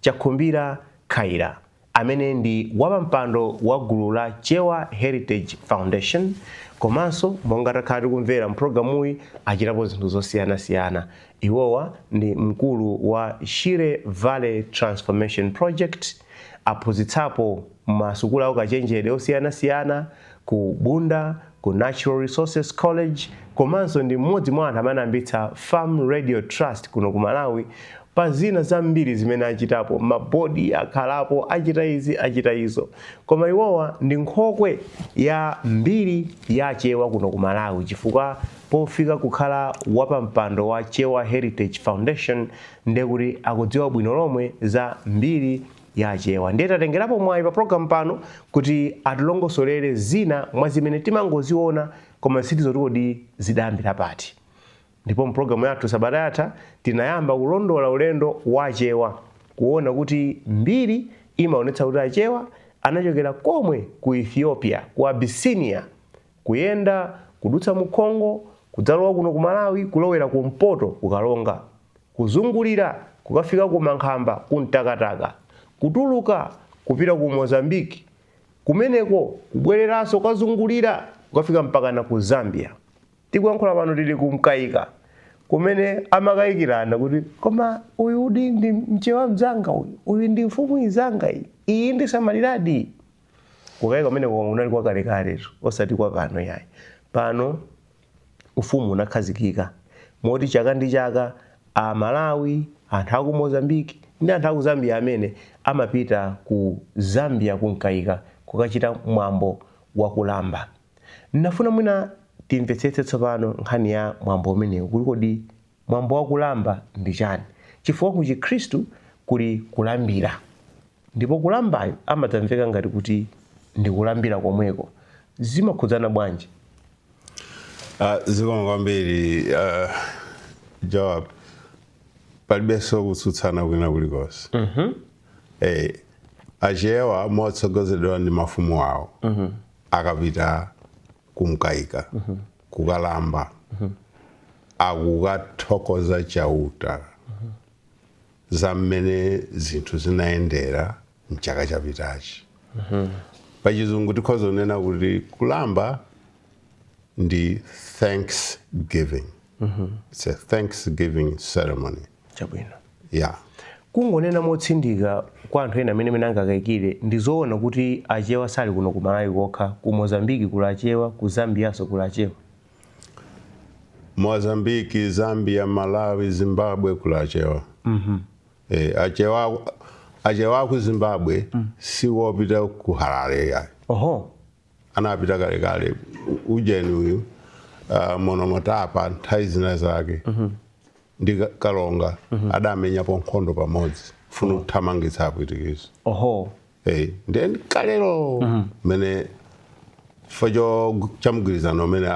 Chakhumbira Khaila, amene ndi wapampando wa gulu la Chewa Heritage Foundation komanso monga takhala tikumvera mpulogalamuyi achitapo zinthu zosiyanasiyana. Iwowa ndi mkulu wa Shire Valley Transformation Project, aphunzitsapo masukulu aukachenjede osiyanasiyana ku Bunda ku Natural Resources College komanso ndi mmodzi mwa anthu amene anayambitsa Farm Radio Trust kuno ku Malawi pa zina zambiri zimene achitapo mabodi akhalapo achita izi achita izo koma iwowa ndi nkhokwe ya mbiri ya chewa kuno ku malawi chifukwa pofika kukhala wapampando wa chewa heritage foundation ndekuti akudziwa bwino lomwe za mbiri ya Achewa. Ndiye tatengerapo mwayi pa program pano kuti atilongosolere zina mwa zimene timangoziona koma sitidziwa kuti kodi zidayambira pati. Ndipo mpulogalamu yathu sabata yatha tinayamba kulondola ulendo wa Achewa kuona kuti mbiri imaonetsa kuti Achewa anachokera komwe ku Ethiopia, ku Abyssinia, Kuyenda kudutsa mu Congo, kudzalowa kuno ku Malawi, kulowera kumpoto ku Karonga, kuzungulira kukafika ku Mankhamba, ku Mtakataka, kutuluka kupita ku Mozambique, kumeneko kubwereranso kukazungulira kukafika mpakana ku Zambia. Tikuyankhula pano tili ku Mkaika kumene amakayikirana kuti koma uyuyudi ndi Mchewa mnzanga uyu? Uyu ndi mfumu inzanga iyi? Iyi indisamaliradi? Kukayika kumeneko kunali kwa kalekalelo, osati kwa pano iyayi. Pano Ufumu unakhazikika moti chaka ndi chaka Amalawi, anthu a ku Mozambique ndi anthu a ku Zambia amene, amapita ku Zambia ku Mkayika kukachita mwambo wa kulamba. Ndinafuna mwina timvetsetse tsopano nkhani ya mwambo umenewu kuti kodi mwambo wa kulamba ndi chani, chifukwa ku Chikhristu kuli kulambira. Ndipo kulambayo amadzamveka ngati kuti ndi kulambira komweko. Zimakhudzana bwanji? Ah, zikomo kwambiri ah, Joab, palibenso kutsutsana kwina kulikonse eh, achewa motsogozedwa ndi mafumu awo akapita kumkaika kukulamba akukathokoza chauta za mmene zinthu zinayendera mchaka chapitachi pachizungu tikhoza kunena kuti kulamba ndi thanksgiving it's a thanksgiving ceremony chabwino yeah kungonena motsindika kwa anthu ena amene amene angakayikire ndi zoona kuti achewa sali kuno ku malawi kokha ku mozambiki kuli achewa ku zambiyanso kuli achewa Mozambique, Zambia, Malawi, Zimbabwe kuli Achewa Eh, achewa achewa aku Zimbabwe si wopita ku Harare yayi oho anapita kalekale U- ujeni uyu uh, Monomotapa nthawi zina zake ndi Ka- Kalonga adamenyapo nkhondo pamodzi funa kuthamangitsa Apwitikizi oho Hey, ndiye kalero mhm. mmene chifukwa cha mgwirizano umene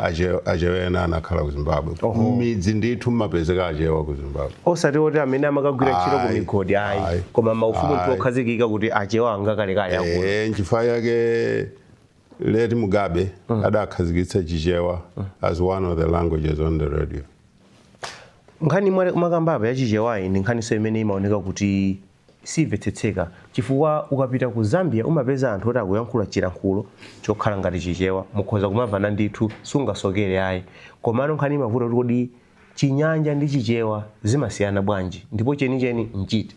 Achewa ena anakhala ku Zimbabwe midzi ndithu mmapezeka Achewa ku Zimbabwe osati oti amene amakagwira ntchito ku migodi ayi koma mafumu okhazikika kuti Achewa akalekale akulu eh, nchifukwa chake late Mugabe mm. adakhazikitsa Chichewa mm. as one of the languages on the radio nkhani mwakambapo ya Chichewayi ndi nkhaninso imene imaoneka kuti siimvetsetseka chifukwa ukapita ku Zambia umapeza anthu oti akuyankhula chilankhulo chokhala ngati Chichewa mukhoza kumamvana ndithu sungasokere ayi komano nkhani imavuta kuti kodi Chinyanja ndi Chichewa zimasiyana bwanji ndipo chenicheni n'chiti?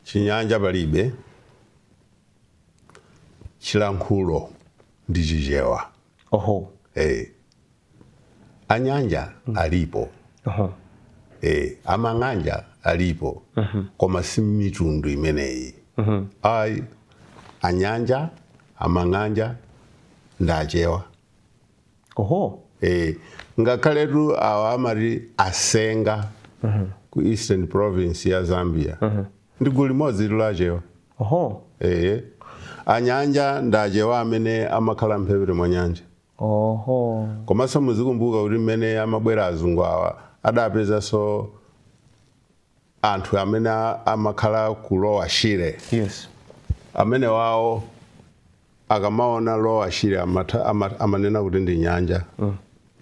Chinyanja palibe, chilankhulo ndi Chichewa. oho ee anyanja alipo oho ee amang'anja alipo koma si mitundu imeneyi ayi anyanja amang'anja ndi Achewa oho Eh, ngakhaletu awa amati Asenga ku Eastern Province ya Zambia ndi gulu limodzi la Achewa Oho. Ehe. Anyanja ndi Achewa amene amakhala mphepete mwa nyanja. Oho. Komanso muzikumbuka kuti mmene amabwera azungu awa adapezanso anthu amene a- amakhala ku Lower Shire. Yes. Amene iwowo akamaona Lower Shire amatha ama, amanena kuti ndi nyanja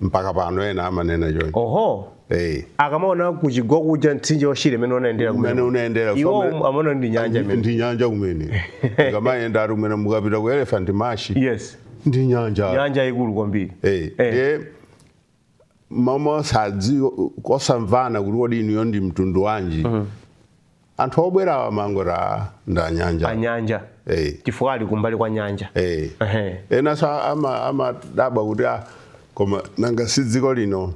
mpaka pano ena amanena choncho oho eh akamaona kuchigwa kuja mtsinje wa Shire mmene unayendera kumene kumene. unayendera iwo Family- amaona ndi nyanja imene ndi nyanja kumene ikamayenda ali kumene mukapita ku Elephant Marsh yes ndi nyanja nyanja yaikulu kwambiri eh Eh. ndiye mmamasazi kosamvana kuti kodi inuyo ndi mtundu wanji anthu obwerawa amangoti a ndi anyanja anyanja Eh. chifukwa ali kumbali kwa nyanja Eh. Ehe. enanso ama- amadabwa kuti a koma nanga si dziko lino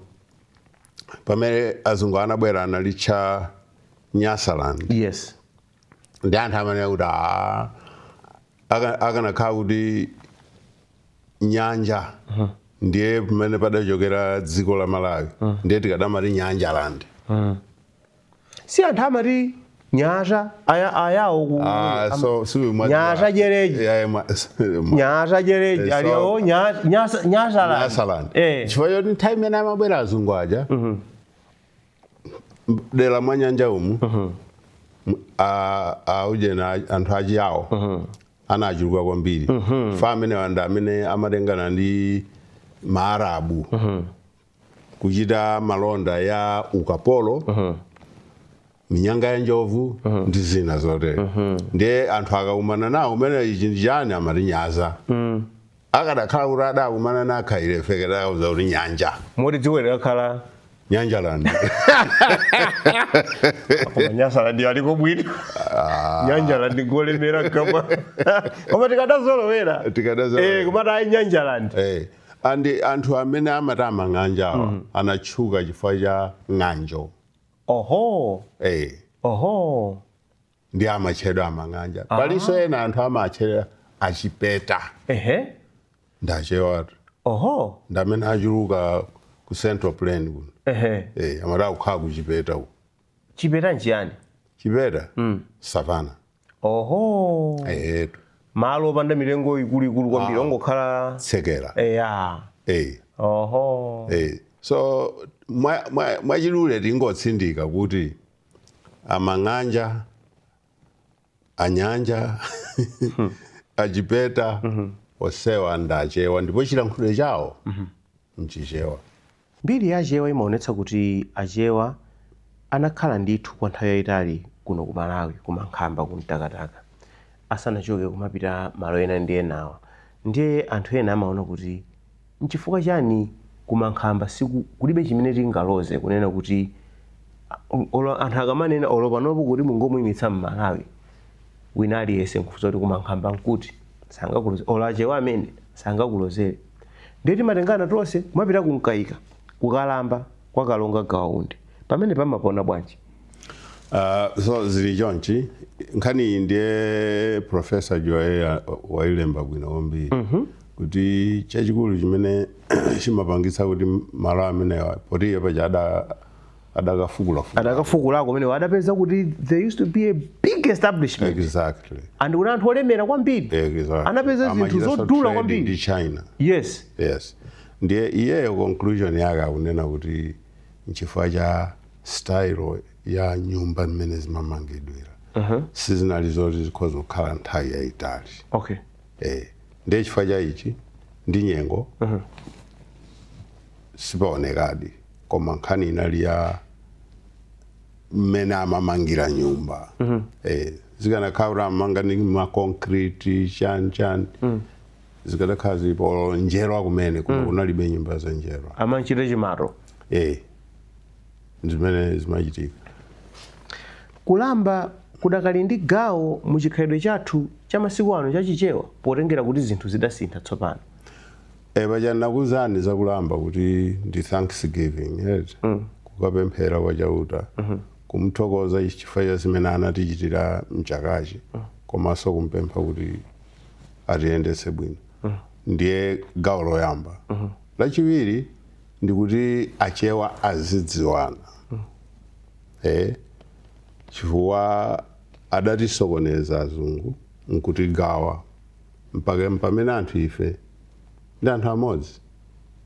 pamene azungu anabwera analitcha Nyasaland yes ndi anthu amanena kuti a akanakhala kuti nyanja ndiye pamene padachokera dziko la malawi ndiye tikadamati nyanja land si anthu amati nyasa aya- Ayawo ku- Ah, am- so- so we must- nyasa jereji Yeah, yeah, ma- ma- nyasa jereji Eh, Ayawo so- nya- nyasa- nyasa la- Nyasaland. Eh. chifukwa choti nthawi imene amabwera azungu aja dera mwa nyanja umu mhm. aujeni anthu achiyawo mhm. anachuluka kwambiri mhm. paja amenewa nda amene amatengana ndi maarabu kuchita malonda ya ukapolo minyanga ya njovu ndi zina zotere ndiye anthu akakumana nawo kumene ichi ndi chani amati nyasa Akadakhala kuti adakumana na akaife tikadawauza kuti nyanja. Moti dziko likadakhala Nyanjaland. koma Nyasaland iliko bwino. Ah. Nyanjaland ikulemera kamwa. Koma tikadazolowera. Tikadazolowera. Eh, kumati ayi Nyanjaland. Eh. And anthu amene amati amang'anja awa mm. anatchuka chifukwa cha ng'anjo. Oho. Eh. Oho. ndi amatchedwa amang'anja palinso ena anthu amatchedwa achipeta ehe ndachewatu oho ndamene achuluka ku central plain kuno ehe eh, amati kukhala kuchipeta uku chipeta nchiyani chipeta savana oho ehetu malo opanda mitengo ikuluikulu kwambiri ongokhala tsekera eya eh, oho eh. so mwa- mwa- mwachidule tingotsindika kuti a Mang'anja, a Nyanja, a Chipeta, onsewa ndi Achewa ndipo chilankhulo chawo n'Chichewa. Mbiri ya Achewa imaonetsa kuti Achewa anakhala ndithu kwa nthawi yaitali kuno ku Malawi ku Mankhamba ku Mtakataka asanachoke kumapita malo ena ndi enawa ndiye anthu ena amaona kuti Nchifukwa chani ku Mankhamba siku, kulibe chimene tingaloze kunena kuti olo anthu akamanena olo panopo kuti mungomuimitsa Mmalawi wina aliyense nkufusa kuti ku Mankhamba nkuti? Sangakuloze olo Achewa amene? Sangakulozere. Ndiye timatengana tonse kumapita ku Mkaika, ku Kulamba kwa Kalonga Gawa Undi. Pamenepa mmapaona bwanji? Aaa so zili chonchi nkhaniyi ndiye Prof. Juwayeyi wailemba bwino kwambiri. kuti chachikulu chimene chimapangitsa kuti malo amenewa poti iye paja ada- adakafukulafukula adakafukula kumenewo adapeza kuti there used to be a big establishment exactly and kunali anthu olemera kwambiri exactly Anapeza zinthu Amachita zodula trade kwambiri. ndi china yes yes ndiye iyeyo conclusion yake akunena kuti nchifukwa cha style ya nyumba mmene zimamangidwira sizinali zoti zikhoza kukhala nthawi yayitali okay eh ndiye chifukwa cha ichi ndi nyengo sipaonekadi koma nkhani inali ya mmene amamangira nyumba eh, zikanakhala kuti amamanga ndi makonkriti chani chani zikadakhala zilipo njerwa kumene kuno kunalibe nyumba za njerwa amachita chimato eh, zimene zimachitika. Kulamba kudakali ndi gawo mu chikhalidwe chathu cha masiku ano cha Chichewa potengera kuti zinthu zidasintha tsopano. E, paja ndinakuuzani za kulamba kuti ndi thanksgiving eti mm. kukapemphera kwa Chauta mm -hmm. kumthokoza chifukwa cha zimene anatichitira mchakachi mm. komanso kumpempha kuti atiyendetse bwino mm. ndiye gawo loyamba mm -hmm. lachiwiri ndikuti achewa azidziwana eh, chifukwa adatisokoneza azungu nkutigawa mpaka mpamene anthu ife ndi anthu amodzi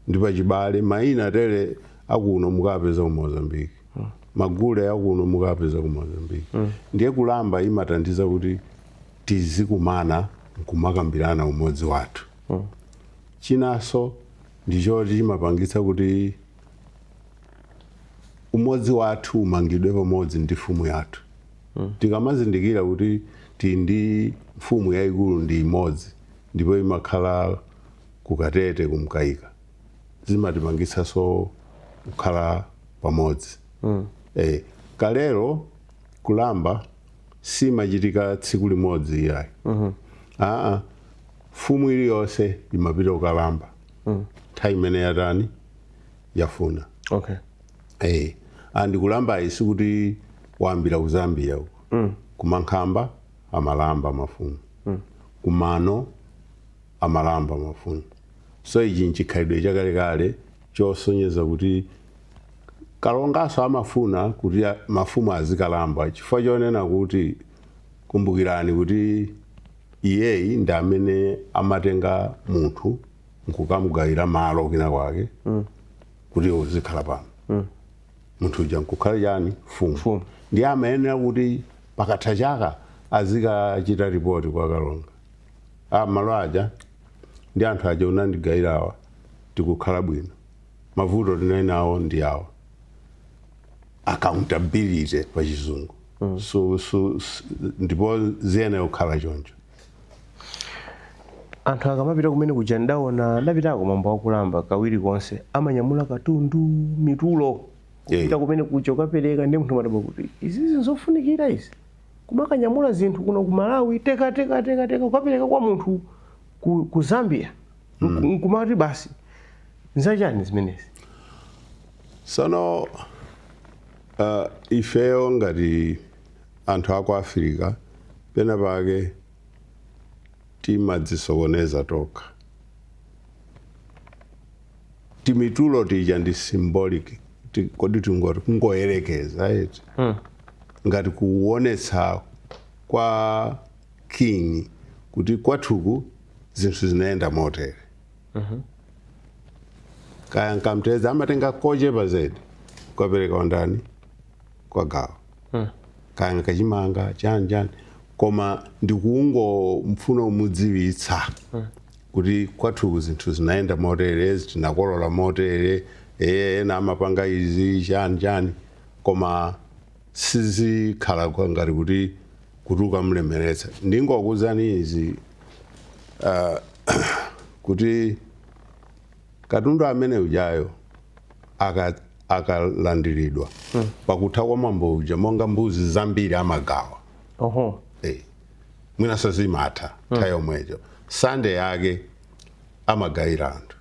ndi pachibale maina atere akuno mukapeza ku mozambiki magule akuno mukapeza ku mozambiki ndiye kulamba imathandiza kuti tizikumana nkumakambirana umodzi wathu chinanso ndi choti chimapangitsa kuti umodzi wathu umangidwe pamodzi ndi mfumu yathu tikamazindikira kuti tili ndi mfumu yayikulu ndi imodzi ndipo imakhala kukatete kumkaika zimatipangitsanso kukhala pamodzi eh, kalero kulamba simachitika tsiku limodzi iyayi aa mfumu iliyonse imapita kukalamba nthawi imene yatani yafuna okay Eh, and kulambayi sikuti wayambira ku zambia uko kumankhamba amalamba mafumu kumano amalamba mafumu so ichi nchikhalidwe chakalekale chosonyeza kuti kalonganso amafuna kuti a- mafumu azikalamba chifukwa chonena kuti kumbukirani kuti Iyeyi ndi amene amatenga munthu nkukamugawira malo kwina kwake kuti uzikhala pano. Munthu uja nkukhala chani? Mfumu. Mfumu. Ndiye amayenera kuti pakatha chaka azikachita ripoti kwa kalonga. Ah, malo aja ndi anthu aja munandigawirawa tikukhala bwino. Mavuto tinali nawo ndi awa. accountability pa chizungu so, so, s- ndipo ziyenera kukhala choncho anthu akamapita kumene kuja ndaona ndapitako mambo akulamba kawiri konse amanyamula katundu mitulo kupita Yeah. kumene kuja ukapereka ndi munthu amadabwa kuti izizi nzofunikira izi kumakanyamula zinthu kuno ku malawi teka teka teka teka ukapereka kwa munthu ku, ku zambia mm. nkumati basi nzachani zimenezi sono uh, ifeyo ngati anthu aku africa pena pake timadzisokoneza tokha timitulo tija ndi symbolic ti- kodi tingoti kungoyerekeza eti mm. ngati kuonetsa kwa king kuti kwathuku zinthu zinaenda motere kaya nkamtedza amatenga kochepa zedi kukapereka andani kwa gawo kaya nkachimanga chani chani koma ndikungomfuna umudziwitsa kuti kwathuku zinthu zinaenda motere tinakolola motere eh, ena amapanga izi chani chani koma sizikhala ngati kuti kuti ukamlemeretsa ndingokuwuzani izi ah, kuti katundu amene ujayo aka- akalandiridwa pakutha kwa mwambo uja monga mbuzi zambiri amagawa oho Eh, mwina sazimatha nthawi yomweyo sande yake amagayira anthu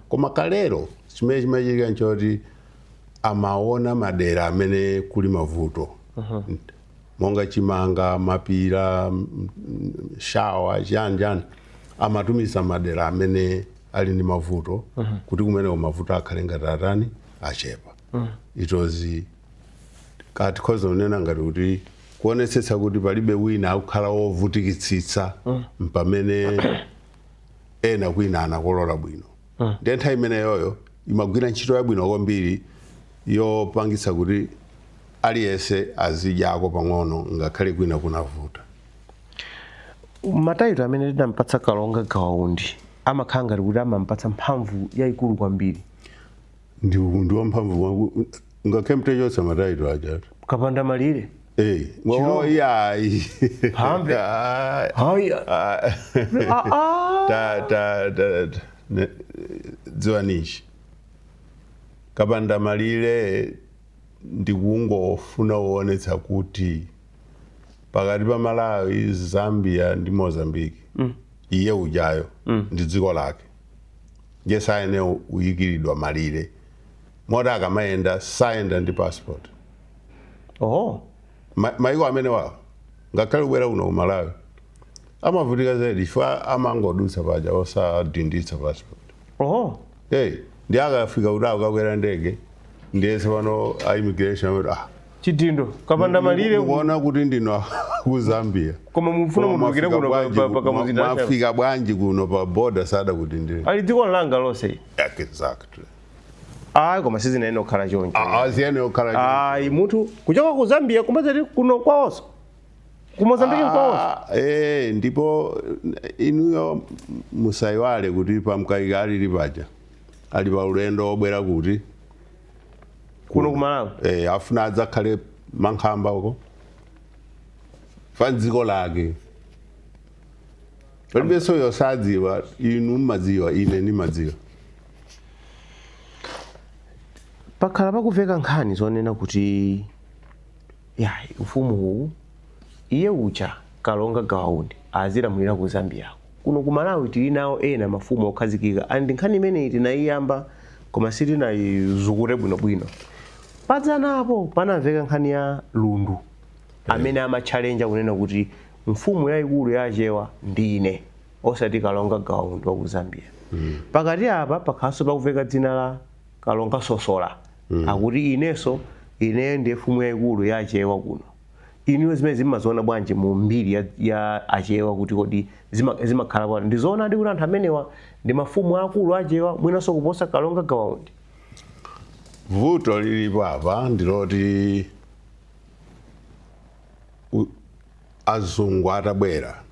koma kalero chimene chimachitika nchoti amaona madera amene kuli mavuto monga chimanga mapira m- m- shawa chiyani chiyani amatumiza madera amene ali ndi mavuto kuti kumeneko mavuto akhale ngati atani achepa ndiye tikhoza kunena ngati kuti kuonetsetsa kuti palibe wina akukhala wovutikitsitsa mpamene ena kwina anakolola bwino mm. ndiye nthawi imeneyoyo imagwira ntchito yabwino kwambiri yopangitsa kuti aliyense azidyako pang'ono ngakhale kwina kunavuta matayito amene tinampatsa kalonga gawaundi amakhala ngati kuti amampatsa mphamvu yayikulu kwambiri ndi ndi wamphamvu mwaku- ngakhale mutachotsa mataito ajatu kapanda malire Eh, wa- Chirombo. wa- ya, i- Phambe. Ah, haya ah, Ah, ah. ta- ta- ta- ta- ne- dziwani izi kapanda malire ndikungofuna kuonetsa kuti pakati pa malawi zambia ndi mozambique iye ujayo ndi dziko lake ndiye sayenera kuyikiridwa malire moti akamayenda sayenda ndi passport oho Ma- maiko amene wawo ngakhale kubwera kuno ku malawi amavutika zedi chifukwa amangodutsa paja osadinditsa passport oho hey ndi akafika kuti akakwera ndege ndiyese pano a immigration amati ah chidindo kapanda malire mukuona kuti ndino ku zambia koma mufuna Koma mutulukire mwafika kuno pa- bwanji pa- ku- pa kamuzinda mwa- achabe. mwafika bwanji kuno pa border sada kuti ndiri ali dziko langa lonse exactly ayi koma siziyenera kukhala choncho siziyenera kukhala ayi munthu kuchoka ku zambia kumazati kuno kwawonso ku mozambiki kwawonso Ah, eh, ndipo eh, inuyo musayiwale kuti Pamkaika alili paja ali pa ulendo obwera kuti kuno kumalawi eh, afuna adzakhale mankhamba uko pa dziko lake palibenso yosadziwa inu mmadziwa ine ndimadziwa pakhala pakuveka nkhani zonena kuti ya ufumu uwu Iye uja Kalonga Gawa Undi azilamulire ku Zambiako. Kuno ku Malawi tili nawo ena mafumu okhazikika and nkhani imeneyi tinayiyamba koma sitinayizukute bwino bwino. Padzanapo panamveka nkhani ya Lundu amene amatchalenja kunena kuti mfumu yayikulu ya Achewa ndine osati Kalonga Gawa Undi wa ku Zambia. Pakati apa pakhalanso pakuveka dzina la Kalonga Sosola akuti inenso ineyo ndiye mfumu yayikulu ya Achewa kuno. inuyo zimene mumaziona bwanji mu mbiri ya, ya achewa kuti kodi zima- zimakhala bwanji ndizoonadi kuti anthu amenewa ndi mafumu akulu achewa mwinanso kuposa kalonga gawa undi vuto lilipo apa ndiloti u- azungu atabwera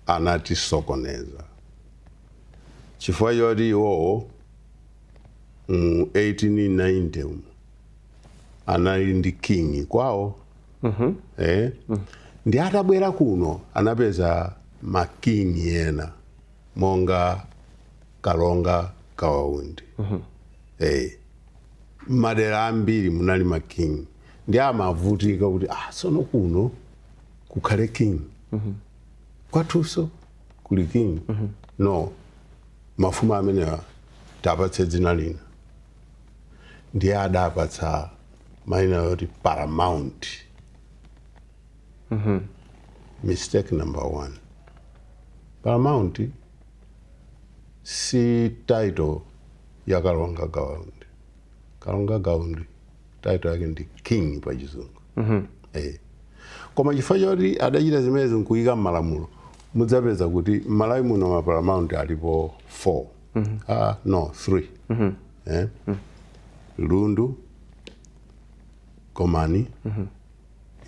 anatisokoneza chifukwa choti iwowo mu 1890 umu anali ndi king kwawo eh? ndi atabwera kuno anapeza makingi ena monga kalonga gawa undi eh. madera ambiri munali makingi ndi amavutika kuti ah, sono kuno kukhale king kwathunso kuli king no mafumu amenewa tiwapatse dzina lina ndiye adapatsa maina oti paramount mm-hmm. mistake number one paramount si title ya kalonga gawa undi kalonga gawa undi title yake ndi king pa chizungu mm-hmm. eh. koma chifukwa choti adachita zimenezi nkuyika mmalamulo mudzapeza kuti mmalawi muno maparamount alipo 4 mm -hmm. uh, no three mm -hmm. eh? mm -hmm. lundu gomani mm -hmm.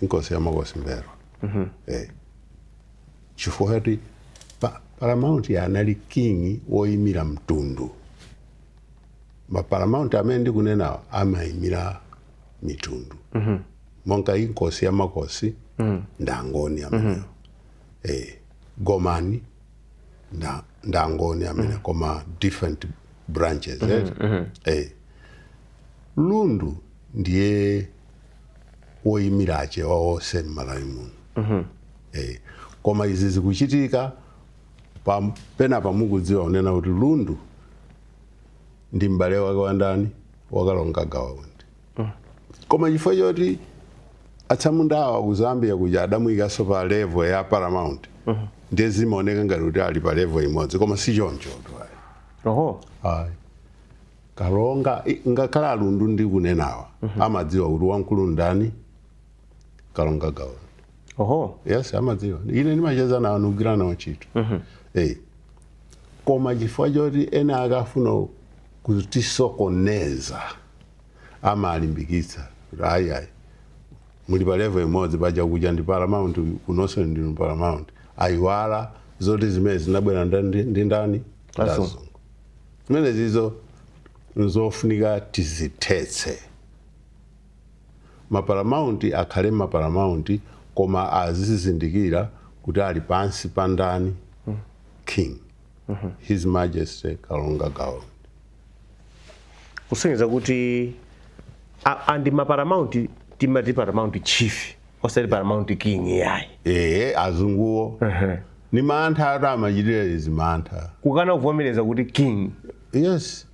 inkosi ya makosi mbelwa mm -hmm. eh. chifukwa choti pa, paramount anali king woimira mtundu maparamount amene ndikunenawo amaimira mitundu mm -hmm. monga inkosi ya makosi mm -hmm. ndi angoni amenewo mm -hmm. eh, gomani nda ndi angoni amenewo koma different branches eti eh lundu ndiye woyimira achewa onse mmalawi muno eh koma izi zikuchitika pa pena pake mukudziwa kunena kuti lundu ndi m'bale wake wa ndani wa kalonga gawa undi koma chifukwa choti atsamundawa ku zambia kuja adamuyikanso pa level ya paramount ndiye zimaoneka ngati kuti ali pa level imodzi koma si choncho ayi. oho Ayi. kalonga i- ngakhale alundu ndikunenawa amadziwa kuti wamkulu ndani kalonga gawa oho yes amadziwa ine ndimacheza nawo ndikugwira nawo ntchito Eh. koma chifukwa choti ena akafuna kutisokoneza amalimbikitsa kuti ayi ayi muli pa level imodzi paja kuja ndi paramount kunonso ndinu paramount ayiwala zoti zimenezi zinabwera nda- ndi ndi ndani Azungu. Azungu. zimenezizo nzofunika tizithetse maparamount akhale maparamount koma azizindikira kuti ali pansi pa ndani king his majesty kalonga gawa kusonyeza kuti a- and maparamount timati paramount chief osati paramount king yayi ee azunguwo ni mantha ati amachitira izi mantha kukana kuvomereza kuti king yes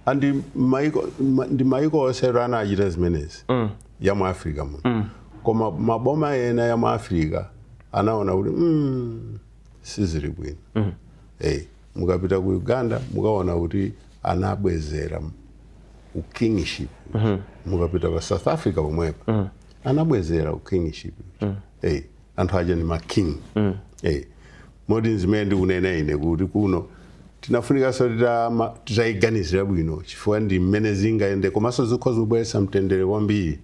and maiko ma- ndi maiko onse anachita zimenezi ya mu africa muno koma maboma ena ya mu africa anaona kuti mm, sizili bwino Eh, mukapita ku uganda mukaona kuti anabwezera ukingship mukapita pa south africa pomwepo anabwezera ukingship Eh, anthu aja ni making Eh, moti nzimene ndikunena ine kuti kuno tinafunikanso titama- titayiganizira bwino chifukwa ndi mmene zingayende komanso zikhoza kubweretsa mtendere kwambiri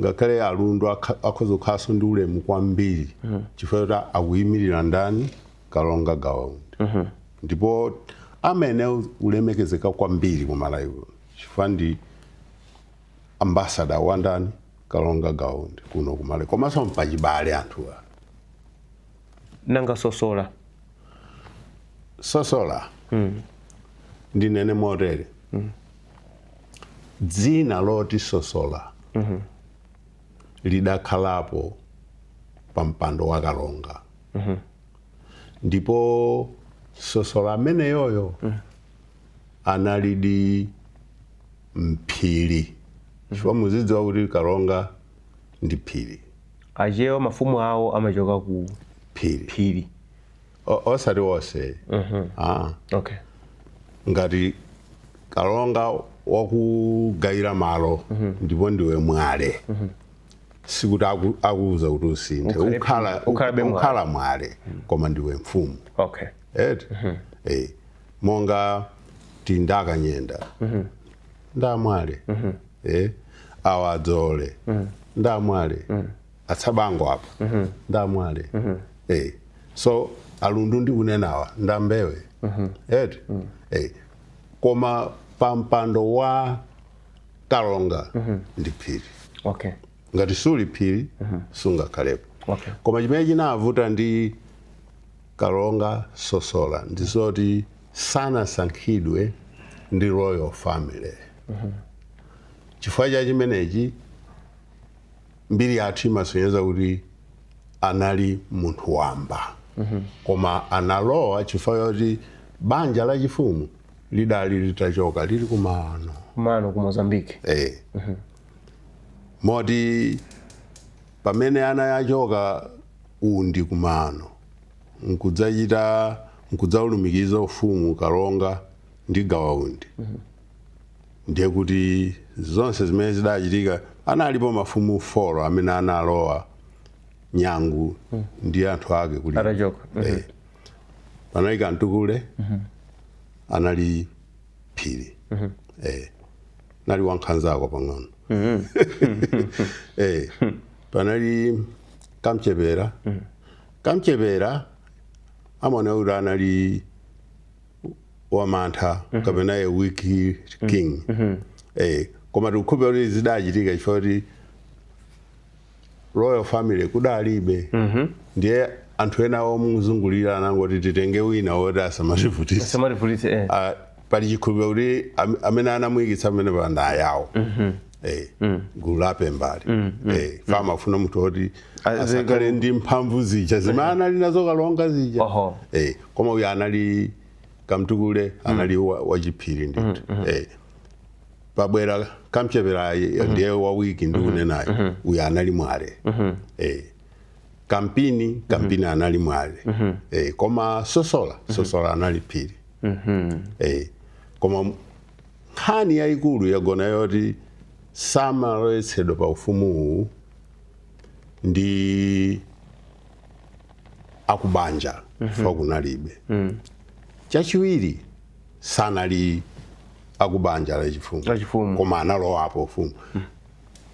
ngakhale a lundu akha- akhoza kukhalanso ndi ulemu kwambiri chifukwa choti akuyimirira ndani Kalonga Gawa Undi. Ndipo amayenera kulemekezeka kwambiri ku Malawi kuno chifukwa ndi ambassador wa ndani? Kalonga Gawa Undi kuno ku Malawi. Komanso mpachibale anthuwa. Nanga Sosola? Sosola ndinene motere. Dzina loti Sosola lidakhalapo pa mpando wa kalonga mm -hmm. ndipo sosola ameneyoyo mm -hmm. analidi mphiri mm -hmm. chifukwa muzidziwa kuti kalonga ndi phiri achewa mafumu awo amachoka ku phiri phiri O- osati wonse Ah. okay ngati kalonga wakugayira malo ndipo ndiwe mwale sikuti aku- akuuza kuti usinthe Ukhale- ukhala ukhalabe mwale. ukhala mwale koma ndiwe mfumu okay eti Eh, monga a kanyenda nda mwale Eh, awa a dzoole nda mwale a tsabango apa nda mwale eh so a lundu ndikunenawa nda mbewe eti eh koma pampando wa kalonga ndi phiri okay ngati suli phiri sungakhalepo Okay. koma chimene chinavuta ndi kalonga sosola ndi zoti sanasankhidwe ndi royal family chifukwa cha chimenechi Mbiri yathu imasonyeza kuti anali munthu wamba koma analowa chifukwa choti banja lachifumu lidali litachoka lili ku maano ku maano ku mozambique Eh. moti pamene anachoka undi ku maano nkudzachita nkudzaulumikiza ufumu kalonga ndi gawa undi ndiye kuti zonse zimene zidachitika analipo mafumu four amene analowa nyangu mm. ndi anthu ake kuli atachoka mm -hmm. eh, panali kamtukule mm -hmm. anali phiri mm -hmm. eh, anali wankhanzako pang'ono mm -hmm. eh, panali kamchepera mm -hmm. kamchepera amaoneka kuti anali wamantha kapena a weak king eh, koma tikukhulupirira kuti zidachitika chifukwa kuti royal family kudalibe ndiye anthu ena omuzungulira anangoti titenge wina woti asamativutitse samativutitse, eh. Ah, pali chikhulupiriro kuti am- amene anamuyikitsa amene pa ndawo ayawo Eh, mm. gulu lapambali mm, mm, eh, mm. amafuna munthu woti asakhale ndi mphamvu zija zimene anali nazo kalonga zija eh, koma uyu anali kamtukule mm. anali mm. wachiphiri ndithu mm, mm. eh, pabwera kamchepera mm -hmm. ndiye wawiki ndikunenayo mm -hmm. uyu anali mwale mm -hmm. eh, kampini mhm. kampini mm -hmm. anali mwale mm -hmm. eh, koma sosola mhm. sosola mm -hmm. anali phiri mm -hmm. eh, koma Nkhani yaikulu yagona yoti samalowetsedwa pa ufumu uwu ndi akubanja chifukwa kunalibe. Chachiwiri sanali akubanja la chifumu Lachifumu. koma analowapo ufumu.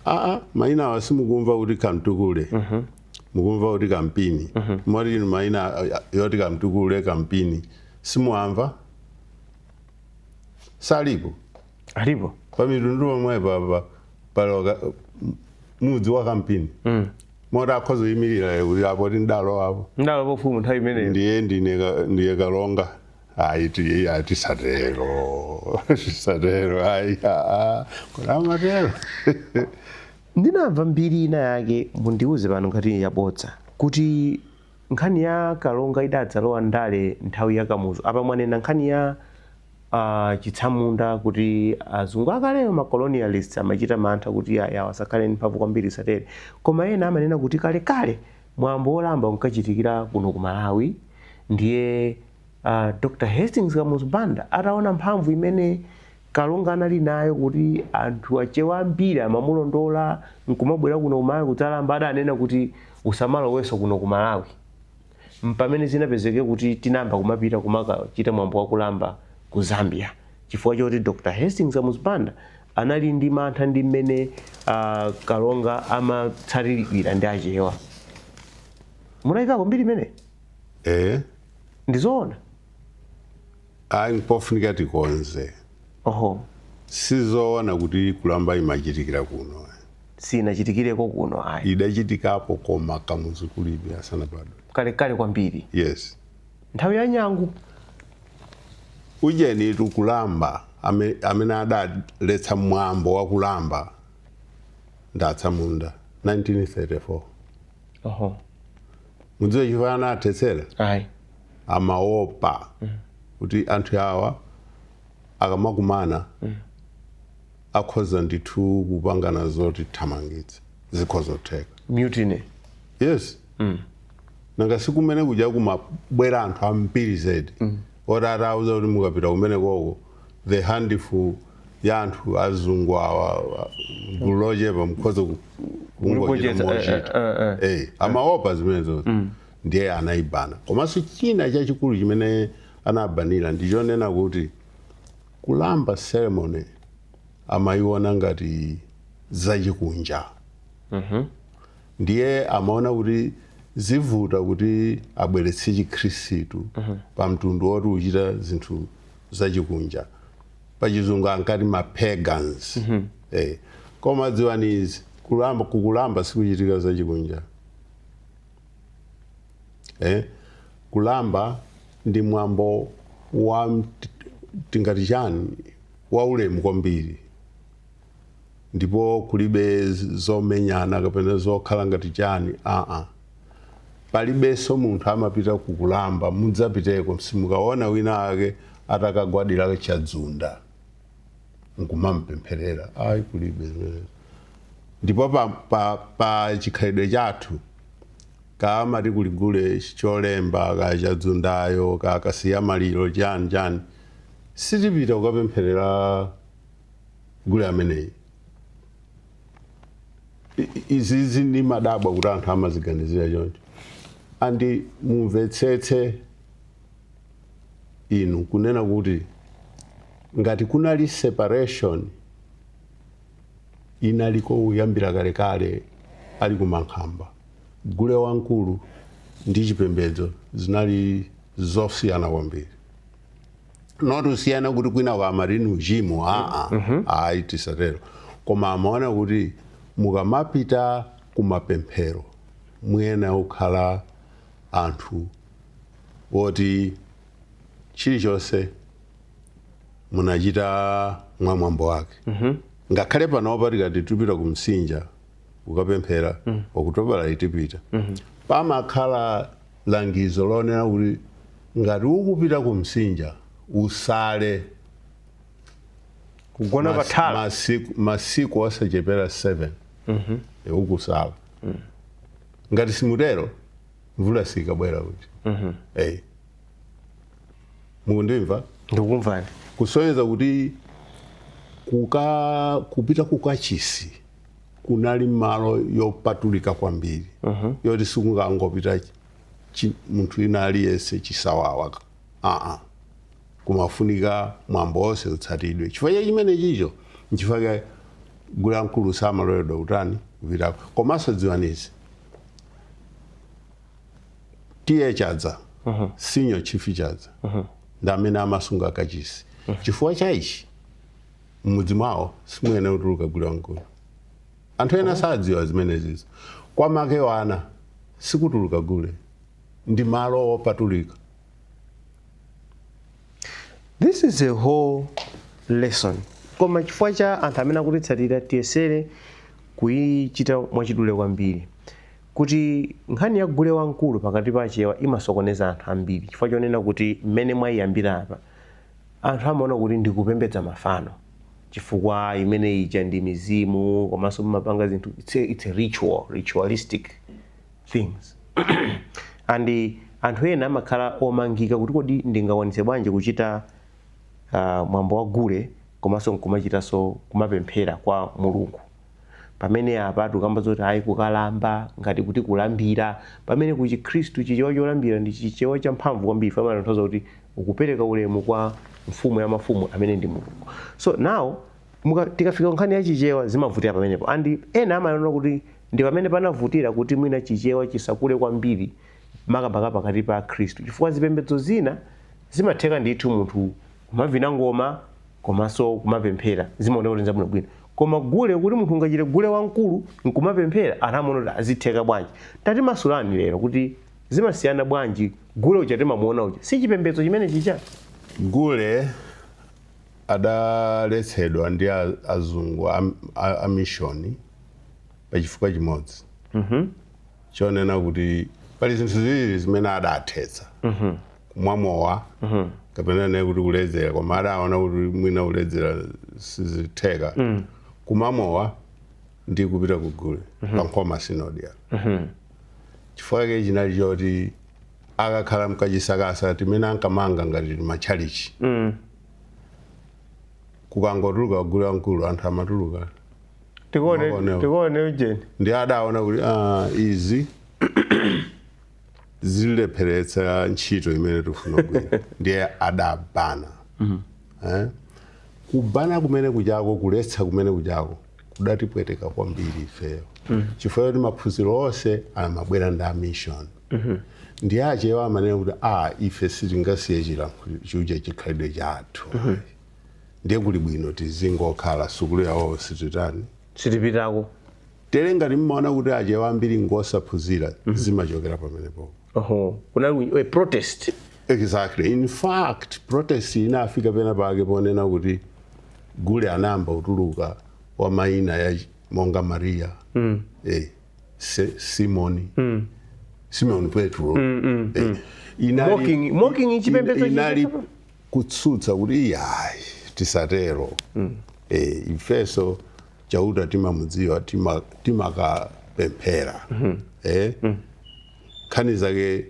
Aa, maina awa simukumva kuti kamtukule mukumva kuti kampini moti inu maina a- a- oti kamtukule kampini simuamva salipo alipo pa Mitundu pomwe papa pali ka mudzi wa kampini mm. moti akhoza kuyimirira kuti apo tindalo apo ndalo pofumu nthawi imeneyo ndiye ndine ka- ndiye kalonga ayi ti- ayi tisatero tisatero ayi aa kodi amatero ndinamva mbiri ina yake mundiuze pano ngati yabodza kuti Nkhani ya Kalonga idadzalowa ndale nthawi ya Kamuzu. Apa mwanena nkhani ya achitsamunda kuti azungu akalewo ma colonialists amachita mantha kuti iyayi awawa asakhale ndi mphamvu kwambiri zisatere. Koma ena amanena kuti kalekale mwambo wa kulamba unkachitikira kuno ku Malawi ndiye a Dr. Hastings Kamuzu Banda ataona mphamvu imene Kalonga anali nayo kuti anthu achewa ambiri amamulondola nkumabwera kuno ku Malawi kudzalamba adanena kuti usamalowenso kuno ku Malawi mpamene zinapezeke kuti tinayamba kumapita kumakachita mwambo wa kulamba ku Zambia chifukwa choti Dr Hastings Kamuzu Banda anali ndi mantha ndi mmene a Kalonga amatsatiridwira ndi achewa munaimvako mbiri imeneyi? Eeh. Ndizoona? Ayi mpofunika tikonze. Oho. Sizoona kuti Kulamba imachitikira kuno ayi. Siinachitikireko kuno ayi. Idachitikapo koma Kamuzu kulibe, asanabadwe. Kalekale kwambiri. Yes. Nthawi ya Nyangu. Ujenitu Kulamba amene adaletsa mwambo wa Kulamba ndi atsamunda 1934. Oho. Mukudziwa chifukwa anathetsera? Ayi. amaopa kuti anthu awa akamakumana akhoza ndithu kupangana zotithamangitsa zikhoza kutheka mutiny yes nanga sikumene kuja kumabwera anthu ambiri zedi oti atauza kuti mukapita kumene koko the handful ya anthu azungu awa awa, gulu lochepa mukhoza ku- kungochita kulipocheza, eh, mochita eh, eh, Eh, amaopa zimenezo ndiye anaibana. Komanso china chachikulu chimene anabanira ndi chonena kuti kulamba ceremony amaiona ngati zachikunja ndiye amaona kuti zivuta kuti abweretse chikhristu pa mtundu woti uchita zinthu zachikunja pachizungu ankati ma pagans eh. koma dziwani izi kulamba kukulamba sikuchitika zachikunja eh? kulamba ndi mwambo wa mt- tingati chani waulemu kwambiri ndipo kulibe z- zomenyana kapena zokhala ngati chani aa palibenso munthu amapita kukulamba mudzapiteko simukaona wina ake atakagwadira chadzunda nkumampempherera ayi kulibe zimenezo ndipo pa, pa, pa chikhalidwe chathu kamati kuli gule cholemba ka chadzundayo ka Kasiyamaliro chani chani sitipita kukapempherera gule ameneyi I- i- izizi ndimadabwa kuti anthu amaziganizira choncho and mumvetsetse inu kunena kuti ngati kunali separation inaliko kuyambira kalekale ali ku Mankhamba, gule wamkulu ndi chipembedzo zinali zosiyana kwambiri. Not kusiyana kuti kwinako amati ni uchimo, aa, ayi tisatero. Koma amaona kuti mukamapita ku mapemphero muyenera kukhala anthu woti chilichonse munachita mwa mwambo wake ngakhale panopa tikati tupita ku msinja kukapemphera okutobala itipita pamakhala langizo lonena kuti ngati ukupita ku msinja usale kugona mas- pathala masiku, masiku asachepera 7 mm ukusala ngati simutero mvula sikabwera kuti mm -hmm. mukundimva ndikumvani kusonyeza kuti kuka kupita kukachisi kunali malo yopatulika kwambiri uh -huh. yoti sikungangopita munthu ina aliyense chisawawa aa kumafunika mwambo wonse utsatidwe chifukwa cha chimene chicho nchifukwa cha gule wamkulu samaloledwa kutani kupitako komanso dziwanizi tiye chadza senior chief chadza ndi amene amasunga kachisi chifukwa cha ichi m'mudzi mwawo simuyenera kutuluka gule wamkulu anthu ena sadziwa zimenezizo kwa makewana sikutuluka gule ndi malo opatulika this is a whole lesson koma chifukwa cha anthu amene akutitsatira tiyesere kuyichita mwachidule kwambiri kuti nkhani ya gule wamkulu pakati pa achewa imasokoneza anthu ambiri chifukwa chonena kuti mmene mwayiyambira apa anthu amaona kuti ndikupembedza mafano chifukwa imene ija ndi mizimu komanso mumapanga zinthu it's a, it's a ritual ritualistic things and anthu ena amakhala omangika kuti kodi ndingakwanitse bwanji kuchita ah, mwambo wa gule komanso nkumachitanso kumapemphera kwa mulungu pamene apa tukamba zoti ayi kukalamba ngati kuti kulambira pamene ku chikhristu chichewa cholambira ndi chichewa champhamvu kwambiri chimatanthauza kuti ukupereka ulemu kwa mfumu ya mafumu amene ndi mulungu so now muka- tikafika nkhani ya chichewa zimavutira pamenepo and ena amaona kuti Ndi pamene panavutira kuti mwina Chichewa chisakule kwambiri makamaka pakati pa Akhristu chifukwa zipembedzo zina zimatheka ndithu munthu kumavina ngoma komanso kumapemphera, zimaoneka kuti n'zabwinobwino. Koma gule, kuti munthu ungachite gule wamkulu n'kumapemphera, anthu amaona kuti, ah, zitheka bwanji? Tatimasulani lero kuti zimasiyana bwanji, gule uja timamuona uja si chipembedzo chimene chija? Gule adaletsedwa ndi a, azungu a, a, a mishoni. pa chifukwa chimodzi chonena kuti pali zinthu ziwiri zimene adathetsa kumwa mowa kapena nditi kuti kuledzera koma adaona kuti mwina kuledzera sizitheka kumwa mowa ndi kupita ku gule pa nkhoma sinodi apa chifukwa chake chinali choti akakhala mkazisakasa timene ankamanga ngati matchalichi kukangotuluka gule wamkulu anthu amatuluka tikuone Makonewo. tikuone ujeni ndiye adaona kuti ah, izi zilepheretsa ntchito imene tikufuna kugwira ndiye adabana eh? kubana kumene kuchako kuletsa kumene kuchako kudatipweteka kwambiri ifeyo chifukwa choti maphunziro onse amabwera ndi amishoni ndiye achewa amanena kuti a ife sitingasiye chilankhuliro chija chikhalidwe chathu ndiye kuli bwino tizingokhala sukulu yawoyo sititani sitipitako tere ngati mmaona kuti achewa ambiri ngosaphunzira zimachokera pamenepo oho kunali a protest exactly in fact protest inafika pena pake ponena kuti gule anayamba kutuluka wa maina ya ch- monga maria mm. eh, Se, simoni mm. simoni petro mm, mm, eh, inali, Mocking- mocking chipembedzo ina- inali, chipembedzo? kutsutsa kuti iyayi tisatero e, ifeso chauta timamudziwa tima- timakapemphera e, nkhani zake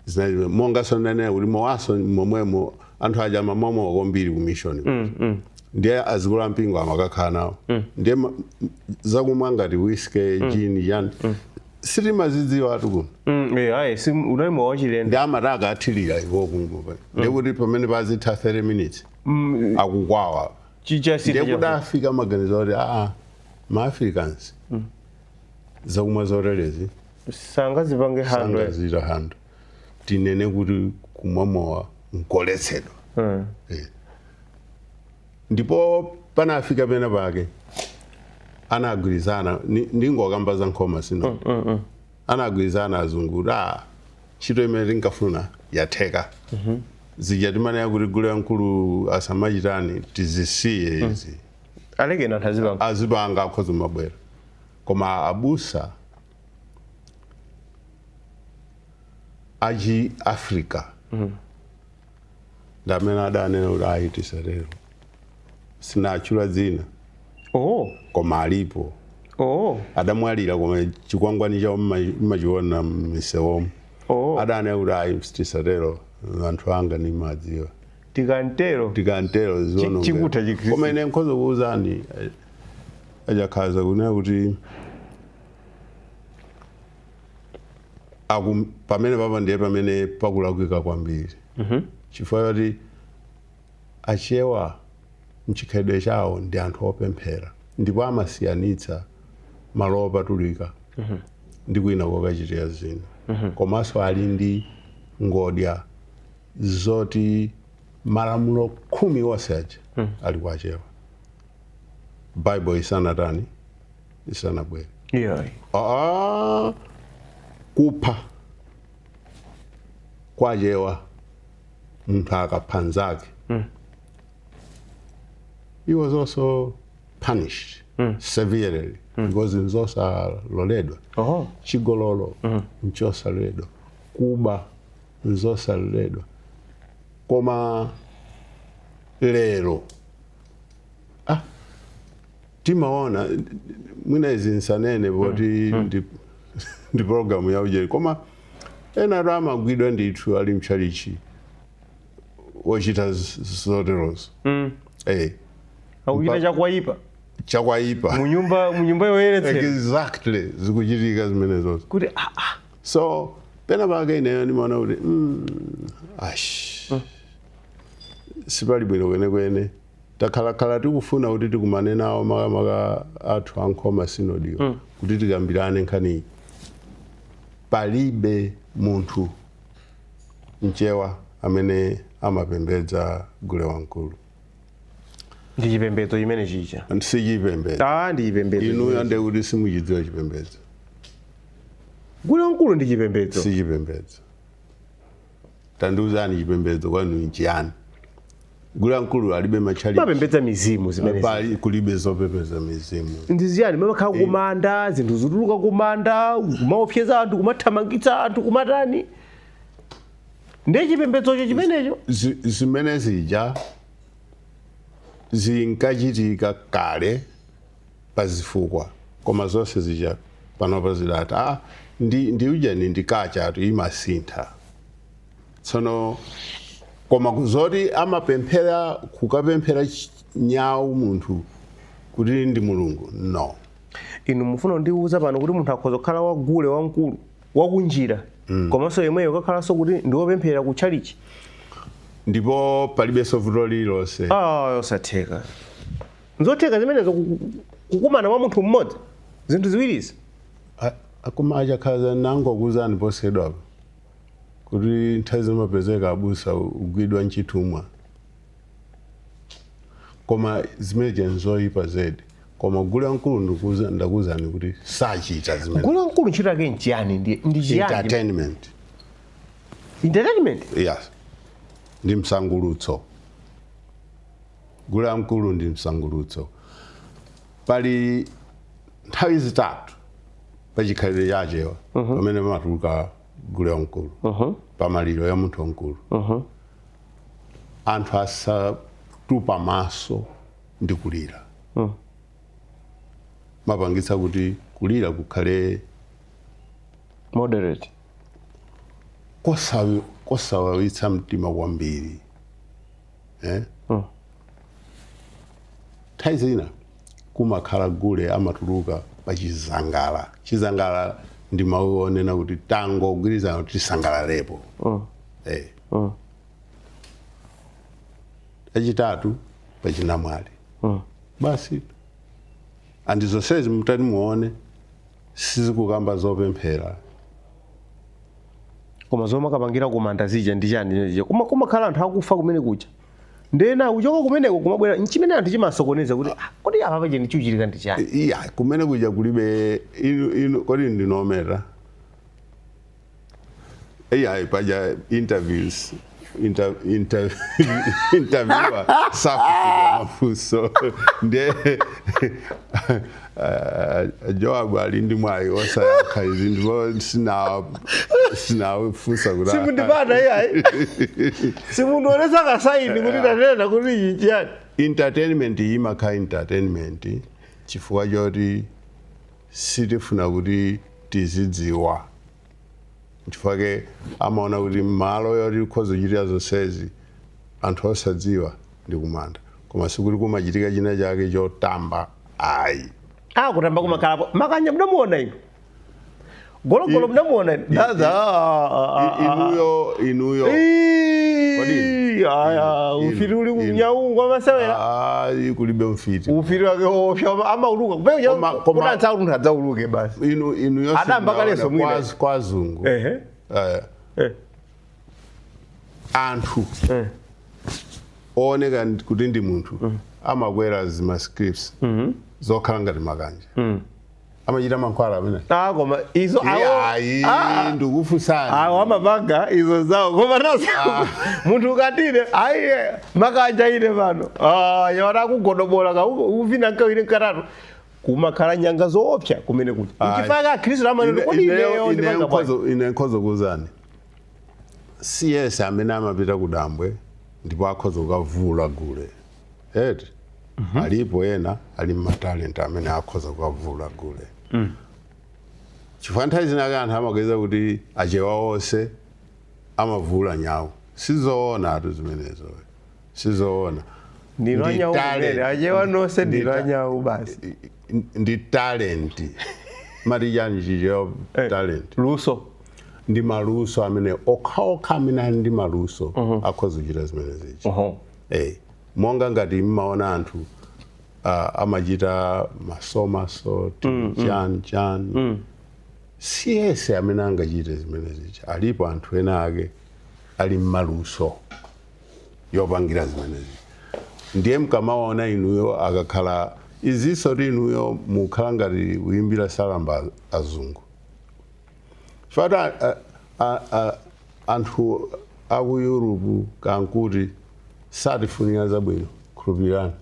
zinali monga nsondanena kuti mowaso momwemo anthu aja amamwa mowa kwambiri ku mission ndiye azikulu a mpingo amakakhala nawo ndiye ma- zakumwa ngati whisky gin yani sitimazidziwatu kuno Mm, eh, ayi si unali mowa wachilendo ndiye amati akathirira iwo kungupa ndiye kuti pamene pazitha 30 minutes Mm, akukwawa chichasita ndiye kuti afika maganizo oti aa ma Africans zakumwa zoterezi sangazipange handle sangazi handle tinene kuti kumwa mowa nkoletsedwa Mm. Eh. Ndipo panafika pena pake anagwirizana ni- ndingokamba za nkhoma sinodi anagwirizana azungu kuti "Ah, ntchito imene tinkafuna yatheka zija timanena kuti gule wamkulu asamachitani tizisiye izi alekeni anthu azipanga azipanga akhoza kumabwera koma abusa achi africa ndi amene adanena kuti ayi tisatero sinatchula dzina oh koma alipo oh adamwalira koma chikwangwani chawo mma- mmachiona mmisewomo oh adanena kuti ayi tisatero anthu anga ndimadziwa tikantero tikantero Chi- ziono chikutha chikhristu. koma ine nkhoza kuwuzani eh, a Chakhaza kunena kuti akum pamenepapa ndiye pamene pakulakwika kwambiri chifukwa choti achewa mchikhalidwe chawo ndi anthu opemphera ndipo amasiyanitsa malo opatulika ndi kwina kokachitira zina komanso ali ndi ngodya zoti malamulo khumi onse aja ali kwa achewa bible isanatani isanabwere iyayi Ah, kupha kwa achewa munthu akapha nzake he was also punished severely because nzosaloledwa oho chigololo nchosaloledwa kuba nzosaloledwa koma lero ah, timaona mwina izi nsanene poti ndi, ndi programu ya ujeni koma ena athu amagwidwa ndithu ali mtchalichi akuchita z- z- zoterozo Mm. eh, akuchita chakwaipa chakwaipa mu nyumba mu nyumba yoyeretsedwa exactly zikuchitika zimenezozo kuti ah, ah, so pena pake ineyo ndimaona kuti mm, ash sipali bwino kwenekwene Takhalakhala tikufuna kuti tikumane nawo makamaka athu a Nkhoma Synod-yo mm. kuti tikambirane nkhaniyi. Palibe munthu mchewa amene amapembedza gule wamkulu ndi chipembedzo chimene chija si chipembedzo ah ndi chipembedzo inuyo ndiye kuti simuchidziwa chipembedzo gule wamkulu ndi chipembedzo si chipembedzo tandiuzani chipembedzo kwanu nchiyani gule wamkulu alibe matchalitchi mapembedza mizimu zimene pali kulibe zopembedza mizimu ndi chiyani mamakhala kumanda zinthu zituluka kumanda kumaopseza anthu kumathamangitsa anthu kumatani ndi chipembedzocho chimenecho Zi- zimene zija zinkachitika kale pazifukwa koma zonse zija panopa zidatha aa ndi ndi ujeni ndi kachatu imasintha tsono koma ku- zoti amapemphera kukapemphera ch- nyawu munthu kuti ndi mulungu no inu mufuna kundiwuza pano kuti munthu akhoza kukhala wagule wamkulu wakunjira komanso yemweyo kakhalanso kuti ndiwopemphera ku tchalichi ndipo palibenso vuto lililonse ah osatheka nzotheka zimenezo ku- ku- kukumana kwa munthu mmodzi zinthu ziwirizi A- akoma achakhaza nangokuuzani posachedwapa kuti nthawi zina amapezeka abusa agwidwa nchithumwa koma zimenezo nzoyipa zedi koma gule wamkulu ndikuza- ndakuuzani kuti sachita zimene gule wamkulu ntchito yake nchiyani ndi ndi chiyani entertainment entertainment yes ndi msangulutso Gule wamkulu ndi msangulutso. Pali nthawi zitatu pa chikhalidwe cha Achewa pamene pamatuluka gule wamkulu. Pa maliro a munthu wamkulu, anthu asatupe maso ndi kulira. Amapangitsa kuti kulira kukhale Moderate. kosawi- kosawawitsa mtima kwambiri. eh? mm. nthawi zina kumakhala gule amatuluka pa chizangala chizangala ndi mawu onena kuti tangogwirizana kuti tisangalalepo mm. eh. mm. achitatu pa chinamwali mm. basi andi zonsezi mutati muone sizikukamba zopemphera koma zomwe amakapangira kumanda zija ndi chiyani chimene chija Kuma- kumakhala anthu akufa kumene kuja ndena kuchoka kumeneko kumabwera nchimene anthu chimasokoneza kuti "Ah, kodi apa paja chikuchitika ndi chiyani iyayi kumene kuja kulibe inu inu kodi ndinameta iyayi paja interviews inter, inter, interviewer safunsidwa mafunso nde uh, joab ali ndi mwayi osayankha izi ndipo sina- sinafunse kuti simundipata iyayi simundionesa kasaini kuti tanena kuti ichi chiyani entertainment iyi imakhala entertainment chifukwa choti sitifuna kuti tizidziwa nchifukwa chake amaona kuti malo yoti ukhoza kuchitira zonsezi anthu osadziwa ndi kumanda koma sikuti kumachitika china chake chotamba ayi Ah, kutamba kumakhalapo. Makanja mudamuona inu. Gologolo mudamuona inu. Daza. ah, ah, ah, I- ah. inuyo inuyo Kodi? Ii, aya, Inu, ufiti uli inu. kunyawu kwa masewera ayi kulibe mfiti ufiti wake wopsa amauluka Koma- koma- kudansa kuti adzauluke basi inu inu yose Adamba mwaona kaleso mwina. kwa az- kwa azungu ehe eh, eh anthu eh ooneka ndi- kuti ndi munthu amakwera zima stilts zokhala ngati makanja amachita mankhwala amene ah koma izo awo ayi ah, ndikufunsani awo amapanga izo zawo koma nazo munthu ukatile ayi eh, makanja ine pano ah yona akugodobola ka kuvina kawiri katatu kumakhala nyanga zoopsa kumene kuja Ayi. nchifukwa akhristu amanena Ine- kodi ineyo- ineyo ineyo ndipanga bwanji nkhozo- ine nkhoza kukuuzani si yese amene amapita ku dambwe ndipo akhoza kukavina gule eti alipo ena ali matalenti amene akhoza kukavina gule chifukwa nthawi zina anthu amaganiza kuti achewa onse amavina nyawu sizoona tu zimenezo sizoona ndinu Ndi anyau talent. kumene achewa nonse Ndi ndinu ta- anyau basi ndi talent mwati chani chicho Eh. talent luso ndi maluso amene okhaokha amene ali ndi maluso akhoza kuchita zimenezi Oho. Eh, monga ngati mmaona anthu ah, amachita masomaso chani chani si yese amene angachite zimenezi alipo anthu ena ake ali ndi maluso opangira zimenezi ndiye mkamaona inuyo akakhala izinso kuti inuyo mukhala ngati kuyimbira salamba azungu fata a- a- a- anthu aku europe kaya nkuti satifunira zabwino khulupirirani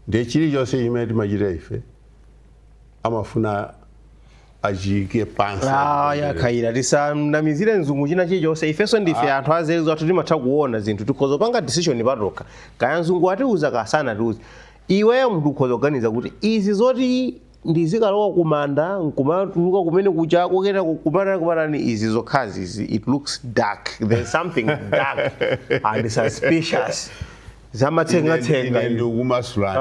ndiye chilichonse chimene timachita ife amafuna achiike pansi Ah, yakhaira tisamunamizire mzungu china chilichonse ifenso ndife anthu anzeru zathu timatha kuona zinthu tikhoza kupanga decision patokha kaya mzungu atiuza kaya sanatiuza iweyo munthu ukhoza kuganiza kuti izi zoti ndizikalowa kumanda nkumatuluka kumene kucha kukukumana kumatani izi zokhazi izi it looks dark there's something dark and suspicious zamatsengatsenga Ine ndikumasulani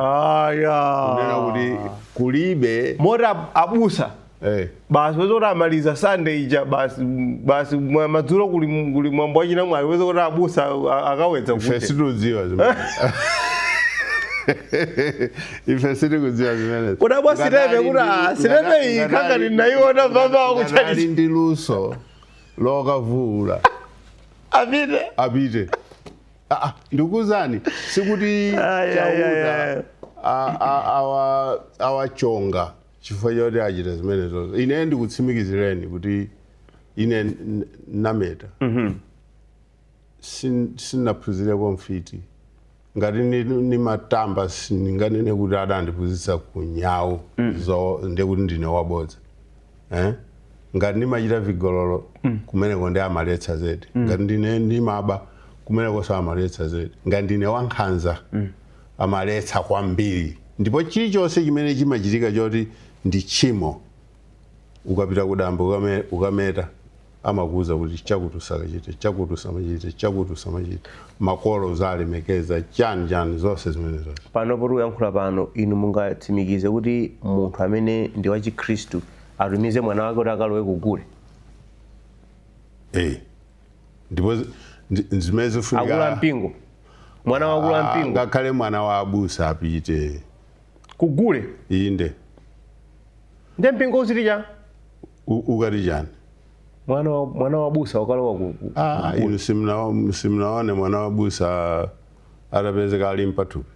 kunena kuti aya kulibe moti ab- abusa eh, basi weza kuti amaliza sunday ija basi basi mwa- madzulo kuli kuli mwambo wa chinamwali weza kuti abusa a- akawedza ife kuti situdziwa zimene ife sitikudziwa zimenezo Kodi abwa Ngati sitepe ali kuti, ndi- ah, sitepe ngati- iyi ngati kanga ali- ndinayiona baba ngati wakuchalichi. ali ndi luso lokavuula apite apite Ah, ah, ndikuzani sikuti Ai, ai, ai, chauta ai. a- a- awa- awachonga chifukwa choti achita zimenezo ine ndikutsimikizireni kuti ine n- nameta Sin- sinaphunzireko ufiti ngati ni- nimatamba sindinganene kuti adandiphunzitsa ku nyawu ndekuti ndine wabodza eh? ngati ndimachita vigololo kumeneko ndi amaletsa zedi ngati ndine ndimaba kumeneko amaletsa zedi ngati ndine wankhanza amaletsa kwambiri ndipo chilichonse chimene chimachitika choti ndi tchimo ukapita kudambo ukame, ukameta amakuuza kuti chakuti usakachite chakuti usamachite chakuti usamachite makolo uzilemekeza chani chani zonse zimenezo pano poti uyankhula pano inu mungatsimikize kuti munthu amene ndi wachikhristu atumize mwana wake kuti akalowe kugule Eh. ndipo zi- ndi- ndi zimene akulu zifunika ampingo mwana wa akulu Ah, ampingo ngakhale mwana wa abusa apite kugule inde nde mpingo uziti chani u- ukati chani mwana wa- mwana wa abusa wakalowa ku- ku- Ah, inu simna- simunaone mwana wa abusa atapezeka ali ndi pathupi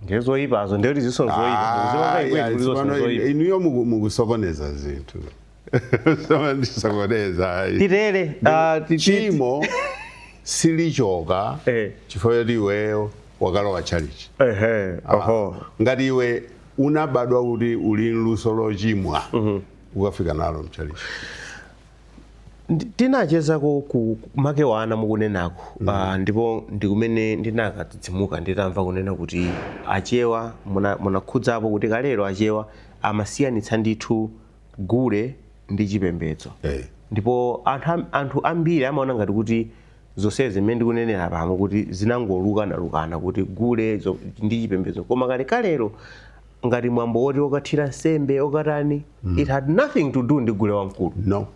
ndiye zoyipazo ndiye kuti zisoni zoyipa Zimanga ikwetu kuti zisoni zoyipa inuyo muku- mukusokoneza zinthu ndasokoneza ayi titere ah, ti- ti- chimo silichoka Eh. chifukwa choti iweyo wakalowa tchalichi ehe oho ngati iwe unabadwa kuti uli ndi luso lochimwa ukafika nalo mtchalichi Ndi- tinachezako ku ku- Makewana mukunenako Ah, ndipo ndikumene ndinakadzidzimuka nditamva kunena kuti achewa muna- munakhudzapo kuti kalero achewa amasiyanitsa ndithu gule ndi chipembedzo. Eh. Ndipo anthu am- anthu ambiri amaona ngati kuti zonsezi zimene ndikunenera pano kuti zinangolukanalukana kuti gule zo- ndi chipembedzo koma kalekalelo ngati mwambo woti okathira nsembe okatani it had nothing to do ndi gule wamkulu No.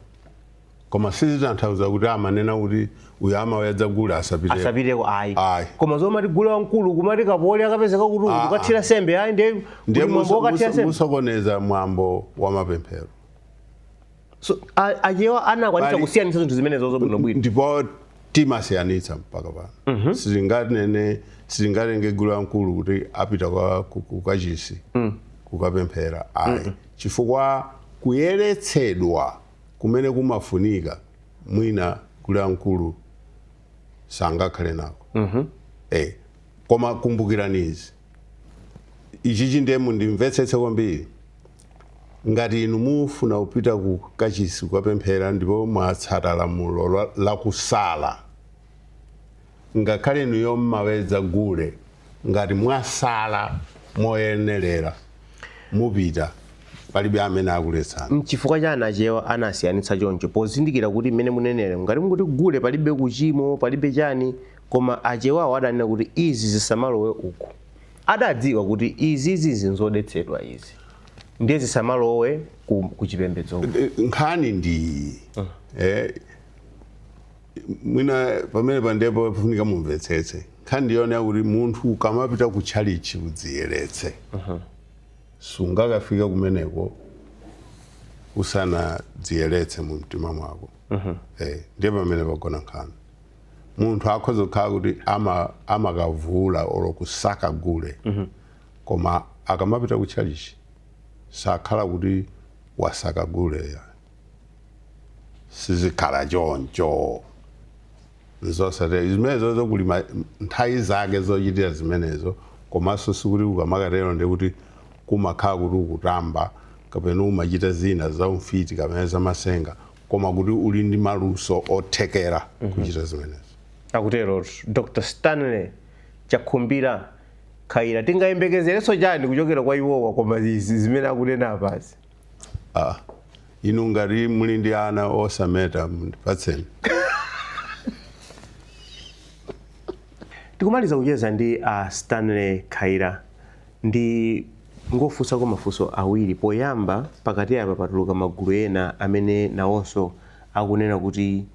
koma sizitanthauza kuti amanena kuti uyu amawedza gule asapite asapiteko ayi Ayi. koma zomati gule wamkulu kumati kapoli akapezeka kuti uyu Ah, okathira nsembe ayi ndiye kuti ndiye mwambo muso- okathira muso- nsembe musokoneza mwambo wa mapemphero So, a- achewa anakwanitsa Pali- kusiyanitsa zinthu zimenezo bwinobwino ndipo timasiyanitsa mpaka pano sitinganene sitingatenge gule wamkulu kuti apita kwa- ku- ku kachisi kukapemphera ayi chifukwa kuyeretsedwa kumene kumafunika mwina gule wamkulu sangakhale nako mm -hmm. eh, koma kumbukirani izi ichichi ndiye mundimvetsetse kwambiri ngati inu mufuna kupita ku kachisi kukapemphera ndipo mwatsata lamulo la kusala ngakhale inuyo mmawedza gule ngati mwasala moyenelera mupita palibe amene akuletsani. Mchifukwa chani achewa anasiyanitsa choncho pozindikira kuti mmene muneneramu ngati mukuti gule palibe kuchimo palibe chani koma achewawo adanena kuti izi zisamalowe uku adadziwa kuti izizizi n'zodetsedwa izi ndiye zisamalowe ku, kuchipembedzoku. Nkhani ndi iyi eh, mwina pamenepa ndi pofunika mumvetsetse nkhani ndi yoona yakuti munthu ukamapita ku tchalichi udziyeretse sungakafika kumeneko usanadziyeretse mu mtima mwako Eh, ndiye pamene pagona nkhani munthu akhoza kukhala kuti ama- amakavula olo kusaka gule koma akamapita ku tchalichi sakhala kuti wasaka gule ya sizikhala choncho n'zosatheka zimenezo zokuli ma- nthawi zake zochitira zimenezo komanso sikuti ukamakatero ndiye kuti kumakhala kuti ukutamba kapena umachita zina za umfiti kapena zamasenga koma kuti uli ndi maluso othekera kuchita zimenezo akutero dr stanley chakhumbira khaila tingayembekezerenso chani kuchokera kwa iwowa koma izi zimene akunena apazi Ah, inu ngati muli ndi ana osameta mundipatseni tikumaliza kucheza ndi a stanley khaila ndingofunsako mafunso awiri poyamba pakati apa patuluka magulu ena amene nawonso akunena kuti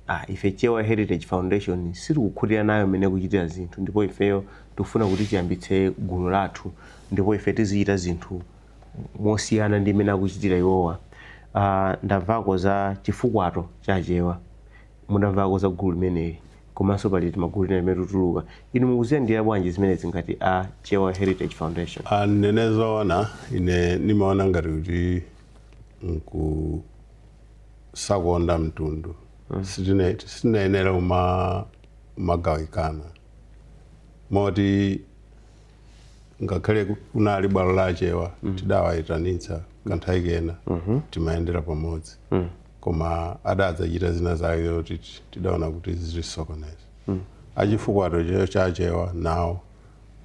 ah, ife chewa heritage foundation sitikukhutira nayo mmene ikuchitira zinthu ndipo ifeyo tikufuna kuti tiyambitse gulu lathu ndipo ife tizichita zinthu mosiyana ndi mmene akuchitira iwowa. A, ndamvako za chifukwato cha Achewa. Mudamvako za gulu limeneli. Komanso pali timagulu tina timene tituluka. Inu mukuziyandikira bwanji zimenezi ngati a Chewa Heritage Foundation? A, ndinene zoona, ine ndimaona ngati kuti n'kusakonda mtundu. Sitine, sitinayenera kuma, kumagawikana. Moti. ngakhale ku- kunali bwalo la achewa tidawayitanitsa kanthawi kena timayendera pamodzi koma adadzachita zina zake zoti ti- tidaona kuti zitisokoneza achifukwato che- cha achewa nawo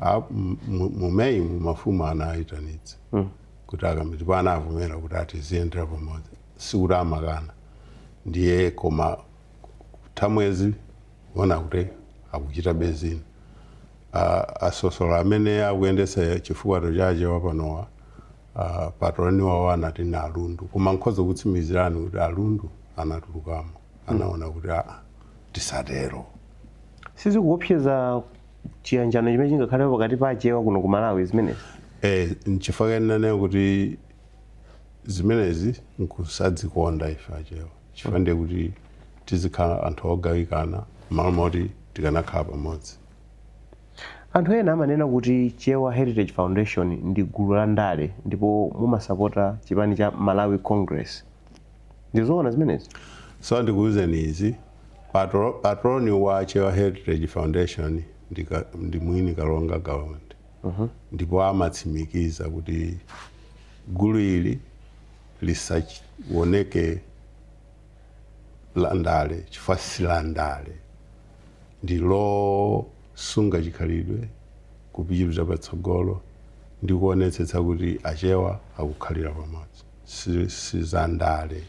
a- m- mu- mu meyi mu mafumu anayitanitsa kuti akambe ndipo anavomera kuti atiziyendera pamodzi sikuti amakana ndiye koma thamwezi kuona kuti akuchita bezini uh, asosolo amene akuyendetsa chifukwato cha achewa panowa uh, patroni wawo anati ni alundu koma nkhoza kutsimikizirani kuti alundu anatulukamo anaona kuti aa tisatero sizikuopseza chiyanjano chimene chingakhale pakati pa achewa kuno ku malawi zimenezi Eh, nchifukwa kenanena kuti zimenezi nkusadzikonda ife achewa chifukwa ndiye kuti tizikhala anthu ogawikana m'malo moti tikanakhala pamodzi. Anthu ena amanena kuti Chewa Heritage Foundation ndi gulu la ndale ndipo mumasapota chipani cha Malawi Congress. Ndi zoona zimenezi? So ndikuuzeni izi, patro, patroni wa Chewa Heritage Foundation ndi, ka, ndi mwini Kalonga Gawa Undi ndipo amatsimikiza kuti gulu ili lisaoneke landale chifukwa silandale ndi losunga chikhalidwe kupitiliza patsogolo ndi kuonetsetsa kuti achewa akukhalira pamodzi si, si za ndale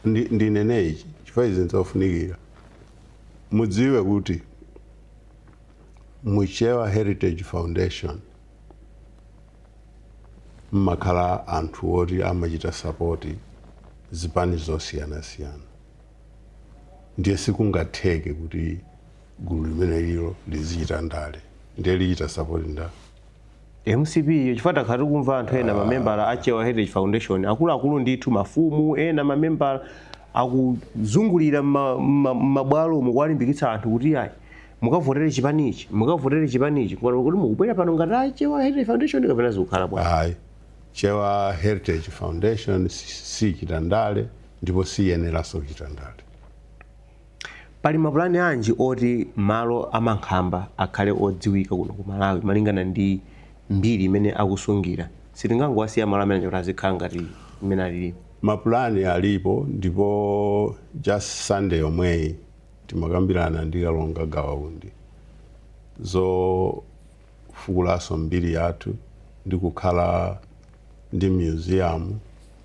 ndi, ndinene ichi chifukwa izi nzofunikira mudziwe kuti muchewa heritage foundation mmakhala anthu oti amachita sapoti zipani zosiyanasiyana ndiye sikungatheke kuti gulu limenelilo lizichita ndale ndiye lichita sapoti ndani? Mcp iyo chifukwa takhala tikumva anthu ena mamembala a Chewa Heritage Foundation akuluakulu ndithu mafumu ena mamembala akuzungulira m'ma- m'ma- m'mabwalomo kuwalimbikitsa anthu kuti ayi mukavotere chipani ichi mukavotere chipani ichi ngati kuti mukubwera pano ngati a chewa heritage foundation kapena zikukhala bwanji ayi chewa heritage foundation si- sichita ndale ndipo siyeneranso kuchita ndale pali mapulani anji oti malo amankhamba akhale odziwika kuno ku malawi malingana ndi mbiri imene akusungira sitingangowasiya malo amene kuti azikhala ngati mmene alili mapulani alipo ndipo just sunday yomweyi Timakambirana ndi Kalonga Gawa Undi zofukulanso mbiri yathu ndi kukhala ndi myuziyamu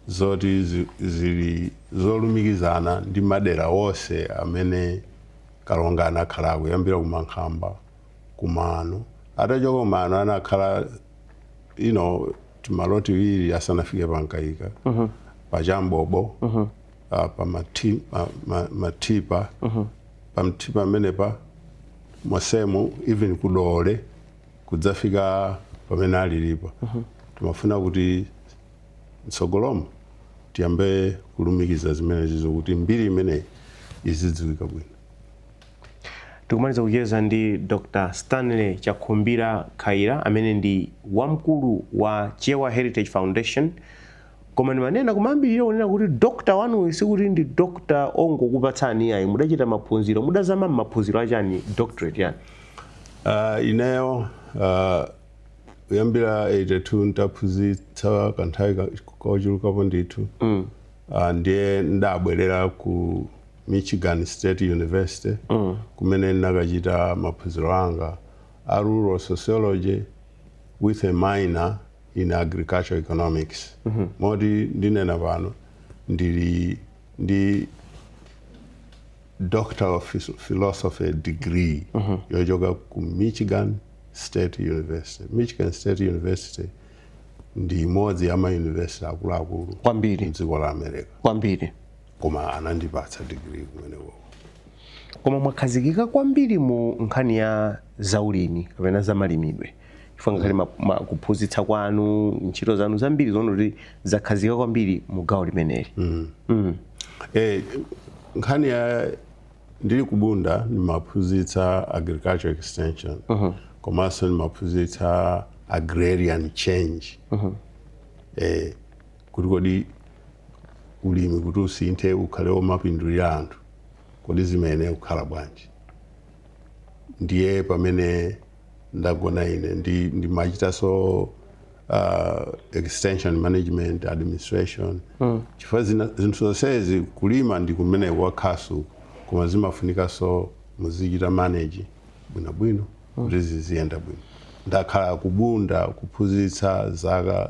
zoti zili zolumikizana ndi madera onse amene Kalonga anakhalako kuyambira ku Mankhamba ku Mano. Atachoka ku Mano anakhala you know timalo tiwiri asanafike pa Mkaika, pa Chambobo. ah, pa mati- ma- ma- matipa pamtipa amenepa mosemu even kudole kudzafika pamene alilipo timafuna kuti mtsogolomu tiyambe kulumikiza zimenezi zokuti mbiri imeneyi izidziwika bwino tikumaliza kucheza ndi dr stanley chakhumbira khaila amene ndi wamkulu wa chewa heritage foundation Koma ndimanena kumayambiriro kunena kuti doctor wanuyi sikuti ndi doctor ongokupatsani iyayi, mudachita maphunziro, mudazama m'maphunziro achani, doctorate yani? Uh, ineyo uh, kuyambira 82 nditaphunzitsa kanthawi kochulukapo ndithu mm. uh, ndiye ndinabwerera ku Michigan State University mm. kumene ndinakachita maphunziro anga a rural sociology with a minor in agricultural economics mm -hmm. moti ndinena pano ndili ndi doctor of philosophy degree mm -hmm. yochoka ku michigan state university michigan state university ndi imodzi ya mayunivesiti akuluakulu kwambiri mdziko la america kwambiri koma anandipatsa digiri kumeneko koma mwakhazikika kwambiri mu nkhani ya zaulimi kapena zamalimidwe chifukwa ngakhale ma- ma- kuphunzitsa kwanu ntchito zanu zambiri zooneka kuti zakhazikika kwambiri mu gawo limeneli Mm. Eh, nkhani ya ndili kubunda ndimaphunzitsa agriculture extension komanso ndimaphunzitsa agrarian change eh, kuti kodi ulimi kuti usinthe ukhale omapindulira anthu kodi zimayenera kukhala bwanji ndiye pamene ndagona ine ndi ndimachitaso uh, extension management administration mm. chifukwa zina- zinthu zonsezi kulima ndi kumene kwa khasu koma zimafunikaso muzichita manage bwinobwino kuti ziziyenda bwino ndakhala kubunda kuphunzitsa zaka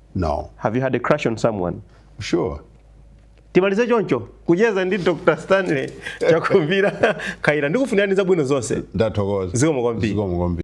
No. Have you had a crush on someone? Sure. timalize choncho kucheza ndi dr stanley chakhumbira khaila ndikufunirani zabwino zonse ndathokoza zikomo kwambiri